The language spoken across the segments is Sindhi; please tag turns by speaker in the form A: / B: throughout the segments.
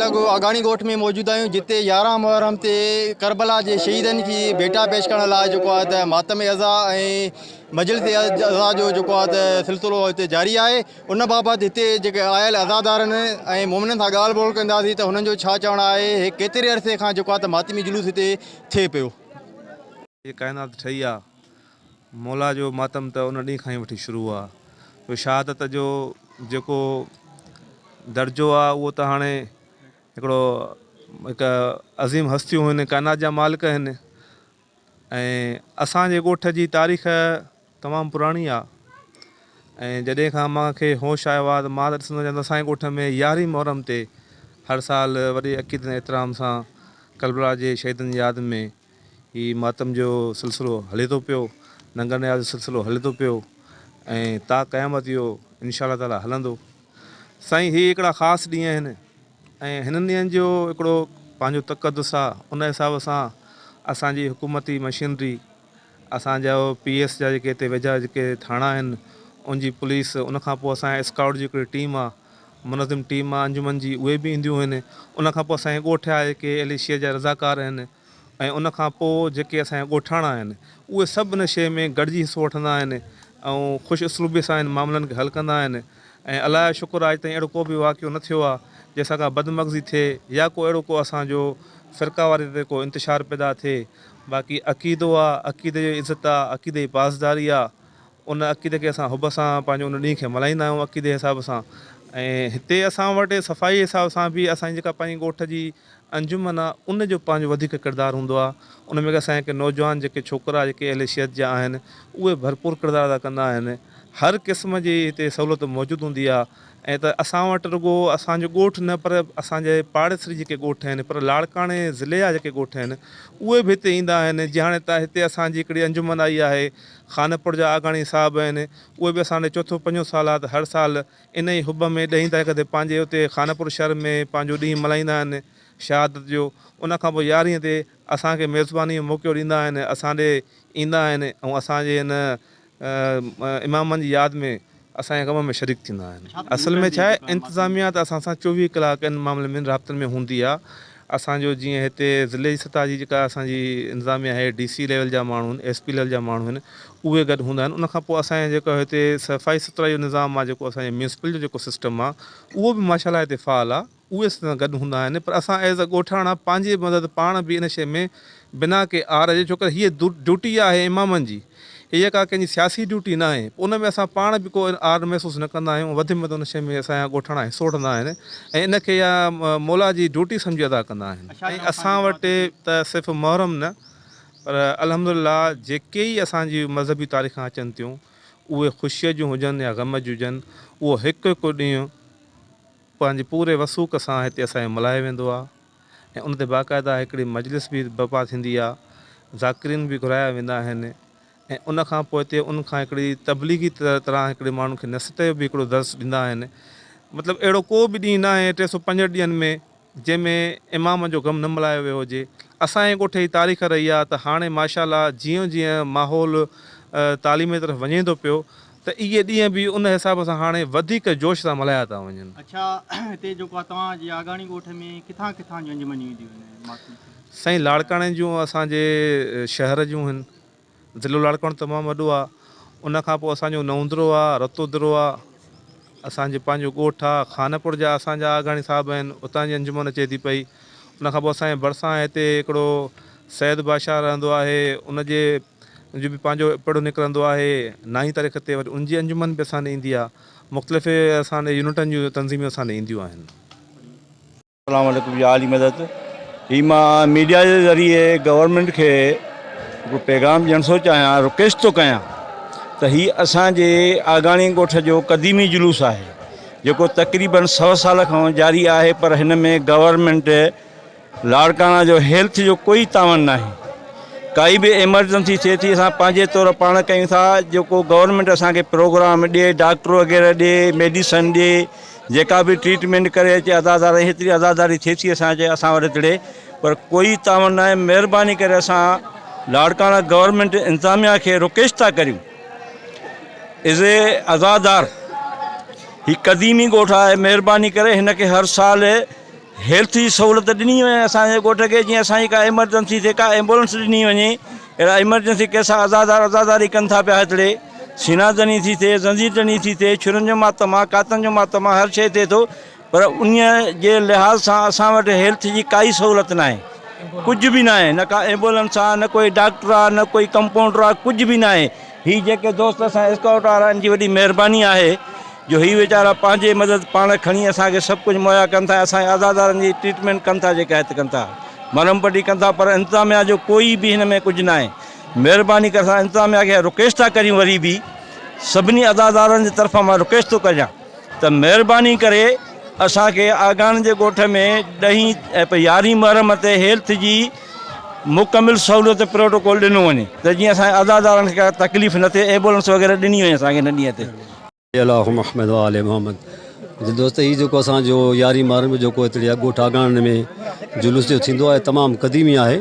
A: لڳو آگاڻي ڳوٺ ۾ موجود آهيون جتي يارهن محرم تي ڪربلا جي شهيدن کي ڀيٽا پيش ڪرڻ لاء جيڪو آهي ته ماتم عزا ۽ مجلس عزا جو جيڪو آهي ته سلسلو هتي جاري آهي ان بابت هتي جيڪي آيل عزادارن ۽ مومنن سان ڳالهه ٻولهه ڪنداسين ته هنن جو ڇا چوڻ آهي هي ڪيتري عرصي کان جيڪو آهي ته ماتمي جلوس هتي ٿئي پيو. هي
B: ڪائنات ٺهي آ. مولا جو ماتم ته ان ڏينهن کان ئي وٺي شروع آ جو شهادت جو جيڪو درجو آ اهو ته هاڻي هڪڙو هڪ عظيم هستيون هن ڪائنات جا مالڪ هن ۽ اسان جي ڳوٺ جي تاريخ تمام پراڻي آ ۽ جڏهن کان مان کي هوش آيو آ ته مان ته ڏسندو آهيان ته اسان جي ڳوٺ ۾ يارهين محرم تي هر سال وڏي عقيدت ۽ احترام سان ڪربلا جي شهيدن جي ياد ۾ هي ماتم جو سلسلو هلي ٿو پيو ننگر نياز جو سلسلو هلي ٿو پيو ۽ تا قيامت اهو انشاء الله تعالٰي هلندو سائين هي هڪڙا خاص ڏينهن آهن ۽ هنن ڏينهن جو هڪڙو پنهنجو تقدس آهي ان حساب سان اسان جي حڪومتي مشينري اسان جا پي ايس جا جيڪي هتي ويجها جيڪي ٿاڻا آهن ان جي پوليس ان کان پوء اسان جي اسڪائوٽ جي هڪڙي ٽيم آهي منظم ٽيم مان انجمن جي اهي به اينديون هين ان کان پوء اسان جي ڳوٺ جا جيڪي اهل شيء جا رضاڪار آهن ۽ ان کان پوء جيڪي اسان جا ڳوٺاڻا آهن اهي سڀ ان شيء ۾ گڏجي حصو وٺندا آهن ۽ خوش اسلوبي سان انهن معاملن کي حل ڪندا آهن ۽ الله جو شڪر آهي اڄ تائين اهڙو ڪو به واقعو نه ٿيو آهي جنهن سان ڪا بدمغزي ٿئي يا ڪو اهڙو ڪو اسان جو فرقه واري تي ڪو انتشار پيدا ٿئي باقي عقيدو آهي عقيدي جو عزت آهي عقيدي جي پاسداري آهي ان عقيدي کي اسان حب سان پنهنجو ان ڏينهن کي ملهائيندا آهيون عقيدي حساب سان ۽ هتي اسان وٽ صفائي حساب سان به اسان جي جيڪا پنهنجي ڳوٺ جي انجمن آهي ان جو پنهنجو وڌيڪ ڪردار هوندو آهي ان ۾ اسان جيڪي نوجوان جيڪي ڇوڪرا جيڪي اهل شيت جا آهن اهي ڀرپور ڪردار ادا ڪندا آهن هر قسم جي هتي سهولت موجود هوندي آهي ائين ته اسان وٽ رڳو اسان جو ڳوٺ نه پر اسان جي پاڙيسري جيڪي ڳوٺ آهن پر لاڙڪاڻي ضلعي جا جيڪي ڳوٺ آهن اهي به هتي ايندا آهن جيئن هاڻي هتي اسان جي هڪڙي انجمن آئي آهي خانپور جا آگاڻي صاحب آهن اهي به اسان ڏي چوٿون پنجون سال آ ته هر سال ان ئي حب ۾ ڏهين تاريخ تي پنهنجي اتي خانپور شهر ۾ پنهنجو ڏينهن ملهائيندا آهن شهادت جو ان کان پوء يارهين تي اسان کي ميزباني جو موقعو ڏيندا آهن اسان ڏي ايندا آهن ۽ اسان جي ان امامن جي ياد ۾ اسان جي ڪم ۾ شريڪ ٿيندا آهن اصل ۾ ڇا آهي انتظاميا ته اسان سان چوويهه ڪلاڪ ان معاملي ۾ رابطن ۾ هوندي آهي اسان جو جيئن هتي ضلعي جي سطح جي جيڪا اسان جي انتظاميا آهي ڊي سي ليول جا ماڻهو آهن ايس پي ليول جا ماڻهو آهن اهي گڏ هوندا آهن ان کان پوء اسان جي جيڪو هتي صفائي سٿرائي جو نظام آهي جيڪو اسان جي ميونسپل جو جيڪو سسٽم آهي اهو به ماشاء الله هتي فعال آهي اهي اسان سان گڏ هوندا آهن پر اسان ايز اي ڳوٺاڻا پنهنجي مدد پاڻ به ان شيء ۾ بنا ڪي آر جي ڇوڪر هيء ڊيوٽي آهي امامن جي هيء ڪا ڪنهن جي سياسي ڊيوٽي ناهي پوء ان ۾ اسان پاڻ به ڪو آر محسوس نه ڪندا آهيون وڌ ۾ وڌ ان شيء ۾ اسان جا ڳوٺاڻا حصو وٺندا آهن ۽ ان کي يا مولا جي ڊيوٽي سمجهي ادا ڪندا آهن ۽ اسان وٽ ته صرف محرم نه پر الحمدلله جيڪي ئي اسان جي مذهبي تاريخان اچن ٿيون اهي خوشيء جون هجن يا غم جون هجن اهو هڪ هڪ ڏينهن پنهنجي پوري وثوق سان هتي اسان کي ملهايو ويندو آهي ۽ ان تي باقاعده هڪڙي مجلس به برپا ٿيندي آهي، ذاڪرين به گهرايا ويندا آهن ۽ ان کان پوء تي ان کان هڪڙي تبليغي طرح هڪڙي ماڻهن کي نصيحت جو به هڪڙو درس ڏيندا آهن. مطلب اهڙو ڪو به ڏينهن ناهي ٽي سؤ پنجهٺ ڏينهن ۾ جنهن ۾ امام جو غم نه ملهايو ويو هجي. اسان جي ڳوٺ جي تاريخ رهي آهي ته هاڻي ماشاء الله جيئن جيئن ماحول تعليم جي طرف وڃي ٿو پيو ته اهي ڏينهن به ان حساب سان هاڻي وڌيڪ جوش سان ملهايا ٿا وڃن. اڇا هتي
A: جيڪو آ توهان جي آگاڻي ڳوٺ ۾ ڪٿان ڪٿان جون انجمنيون اينديون آهن ۽ ماٺون ٿي سائين لاڙڪاڻي
B: جون اسان جي شهر جون هن ضلعو لاڙڪاڻو تمام وڏو آ ان کان پوء اسان جو نئوندرو آ رتودرو آ اسان جي پنهنجو ڳوٺ آ خانپور جا اسان جا آگاڻي صاحب آهن اتان جي انجمن اچي ٿي پئي ان کان پوء اسان جي ڀرسان هتي هڪڙو سيد بادشاهه رهندو آهي. ان جي جو به پنهنجو پڙهه نڪرندو آهي نائين تاريخ تي وري ان جي انجمن به اسان ڏي ايندي آهي. مختلف اسان ڏي يونٽن جون تنظيمون اسان ڏي اينديون آهن.
C: اسلام عليڪم يا علي مدد هي مان ميڊيا جي ذريعي گورنمينٽ کي هڪڙو پيغام ڏيڻ ٿو چاهيان رڪويسٽ ٿو ڪيان ته هي اسان جي آگاڻي ڳوٺ جو قديمي جلوس آهي جيڪو تقريبن سؤ سال کان جاري آهي پر هن ۾ گورنمينٽ لاڙڪاڻا جو هيلٿ جو ڪوئي تعاون ناهي ڪائي به ايمرجنسي ٿئي ٿي اسان پنهنجي طور پاڻ ڪيون ٿا جيڪو گورنمينٽ اسان کي پروگرام ڏي ڊاڪٽر وغيره ڏي ميڊيسن ڏي جيڪا به ٽريٽمينٽ ڪري اچي عزاداري هيتري عزاداري ٿئي ٿي اسان جي اسان وٽ هتڙي پر ڪوئي تعاون ناهي مهرباني ڪري اسان لاڙڪاڻا گورنمينٽ انتظاميا کي رڪويسٽ ٿا ڪريون از اي عزادار هي قديمي ڳوٺ آهي مهرباني ڪري هن کي هر سال هيلٿ جي سهولت ڏني وڃي اسان جي ڳوٺ کي جيئن اسان جي ڪا ايمرجنسي ٿئي ڪا ايمبولنس ڏني وڃي اهڙا ايمرجنسي ڪيس عزادار عزاداري ڪن ٿا پيا هتڙي سينا ڌڻي ٿي ٿئي زنجير ڌڻي ٿي ٿئي ڇرن جو ماتم آ ڪاتن جو ماتم آ هر شيء ٿئي ٿو پر انهيء جي لحاظ سان اسان وٽ هيلٿ جي ڪائي سهولت ناهي. ڪجهه به ناهي. نه ڪا ايمبولنس آ، نه ڪوئي ڊاڪٽر آ، نه ڪوئي ڪمپائونڊر آ، ڪجهه به ناهي. هي جيڪي دوست اسان اسڪائوٽ وارا ان جي وڏي مهرباني آهي جو هي ويچارا پنهنجي مدد پاڻ کڻي اسان کي سڀ ڪجهه مهيا ڪن ٿا ۽ اسان جي عزادارن جي ٽريٽمينٽ ڪن ٿا جيڪا هت ڪن ٿا. مرهم پٽي ڪن ٿا پر انتظاميا جو ڪوئي به هن ۾ ڪجهه ناهي. مهرباني ڪري اسان انتظاميا کي رڪويسٽ ٿا ڪريون وري به سڀني عزادارن جي طرفان مان رڪويسٽ ٿو ڪريان. ته مهرباني ڪري اسان کي آگاڻي جي ڳوٺ ۾ ڏهين ۽ يارهين محرم تي هيلٿ جي مڪمل سهولت پروٽوڪول ڏنو وڃي ته جيئن اسان جي عزادارن کي ڪا تڪليف نه ٿئي ايمبولنس وغيره ڏني وڃي اسان کي ان ڏينهن تي. اللهم احمد و آل
D: محمد جي دوست هي جيڪو اسان جو يارهين محرم جو جيڪو هتڙي آ ڳوٺ آگاڻي ۾ جلوس جو ٿيندو آهي تمام قديمي آهي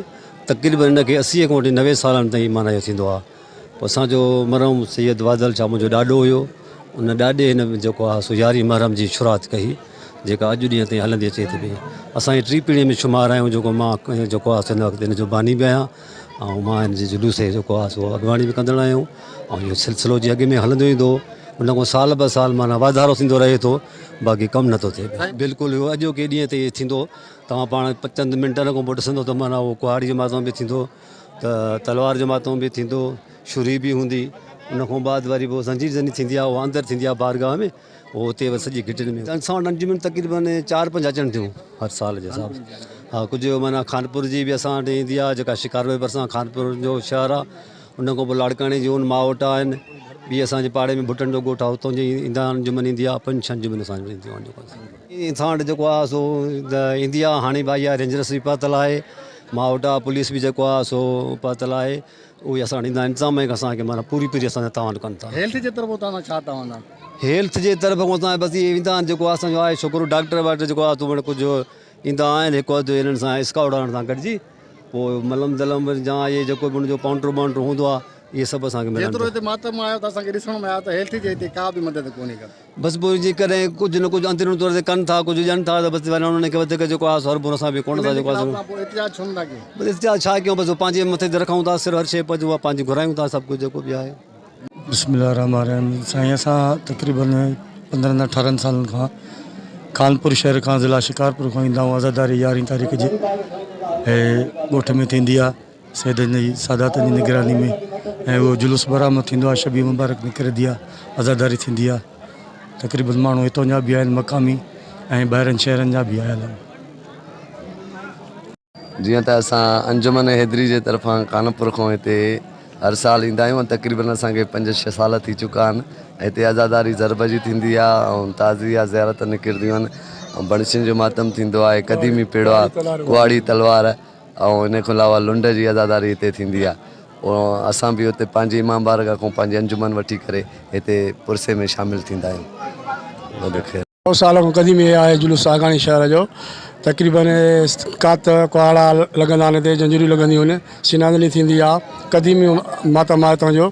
D: تقريبن ان کي اسي کان وٺي نوي سالن تائين معنيٰ جو ٿيندو آهي اسان جو مرحوم سيد واڌل شاهه منهنجو ڏاڏو هيو ان ڏاڏي هن جيڪو آ سو يارهين محرم جي شروعات ڪئي جيڪا اڄ ڏينهن تائين هلندي اچي ٿي پئي اسان جي ٽي پيڙهي ۾ شمار آهيون جيڪو مان جيڪو آ سن وقت هن جو باني به آهيان ۽ مان هن جي جلوس جي جيڪو آ سو اڳواڻي به ڪندڙ آهيون ۽ اهو سلسلو جي اڳ ۾ هلندو ايندو ان کان سال به سال معنيٰ واڌارو ٿيندو رهي ٿو باقي ڪم نٿو ٿئي بلڪل اهو اڄوڪي ڏينهن تي ٿيندو توهان پاڻ چند منٽن کان پوء ڏسندو ته معنيٰ اهو ڪهاڙي جي ماتا ۾ به ٿيندو ته تلوار جو ماتم به ٿيندو شھري به ھوندي ان کان بعد وري پوء زنجير زني ٿيندي آ اھا اندر ٿيندي آ بارگاھ ۾ پوء اتي وري سڄي گھٽين ۾ انسان وٽ انجمن تقريبن چار پنج اچن ٿيون ھر سال جي حساب سان ھا ڪجھ معنيٰ خانپور جي به اسان وٽ ايندي آ جيڪا شڪار واري ڀرسان خانپور جو شھر آ ان کان پوء لاڙڪاڻي جون ماوٽ آھن ٻي اسانجي پاڙي ۾ ڀٽن جو ڳوٺ آ اتان جي ايندا آھن انجمن ايندي آ پنج ڇھھ انجمن اسان وٽ اينديون آھن جيڪو اسان وٽ جيڪو آ سو ايندي آ ھاڻي به آئي آ رينجرس به پاتل آھي ماهوٽا پوليس به جيڪو آهي سو پهتل آهي اهي اسان وٽ ايندا انتظام ۽ اسان کي معنيٰ پوري پوري اسان سان تعاون ڪن ٿا. هيلٿ جي طرف اتان سان ڇا
A: تعاون آهي؟ هيلٿ جي طرف
D: کان اسان بس اهي ايندا آهن جيڪو اسان جو آهي شڪر ڊاڪٽر واٽر جيڪو آهي سو ڪجهه ايندا آهن هڪ اڌ انهن سان اسڪاوٽ وارن سان گڏجي پوء ملم دلم يا اهي جيڪو به ان جو پانٽرو ٻانٽرو هوندو آهي اهي سڀ اسان کي ملن ٿا. جيترو هتي ماتم آيو ته اسان
A: کي ڏسڻ ۾ آيو ته هيلٿ جي هتي ڪا به مدد ڪونهي ڪا. بس پوء جيڪڏهن
D: ڪجهه نه ڪجهه اندروني طور تي ڪن ٿا ڪجهه ڄڻ ٿا ته بستي وارن انهن کي وڌيڪ جيڪو آهه سو اربون اسان به ڪونه ٿا جيڪو آهه سو
A: بس احتجاج ڇا ڪيون بس
D: پنهنجي مٿي تي رکون ٿا سر هر شيء پنهنجي اها پنهنجي گهرايون ٿا سڀ ڪجهه جيڪو به آهي. بسم الله الرحمٰن
E: الرحيم سائين اسان تقريبن پندرهن اٺارهن سالن کان خانپور شهر کان ضلع شڪارپور کان ايندا آهيون عزاداري يارهين تاريخ جي ڳوٺ ۾ ٿيندي آهي سيدن جي سادات جي نگراني ۾ ۽ اهو جلوس برآمد ٿيندو آهي شبي مبارڪ نڪري ديا عزاداري ٿيندي آهي تقريبن ماڻهو هتون جا به آهن مقامي ۽ ٻاهرن شهرن جا به آيل آهن.
F: جيئن ته اسان انجمن حيدري جي طرفان خانپور کان هتي هر سال ايندا آهيون ۽ تقريبن اسان کي پنج ڇهه سال ٿي چڪا آهن ۽ هتي عزاداري ضرب جي ٿيندي آهي ۽ تعزيه زيارت نڪرنديون آهن ۽ بڻسين جو ماتم ٿيندو آهي قديمي پيڙوا ڪهاڙي تلوار ۽ ان کان علاوه لنڊ جي عزاداري هتي ٿيندي آهي ۽ اسان به هتي پنهنجي امام بارگاهه کان پنهنجي انجمن وٺي ڪري هتي پرسي ۾ شامل ٿيندا آهيون. وڏو خير. سؤ سال کان
E: قديم هي آهي جلوس ساڳاڻي شهر جو تقريبا ڪات ڪهاڙا لڳندا آهن هتي جنجريون لڳنديون آهن سينادني ٿيندي آهي قديمي ماتا مائي هتان جو.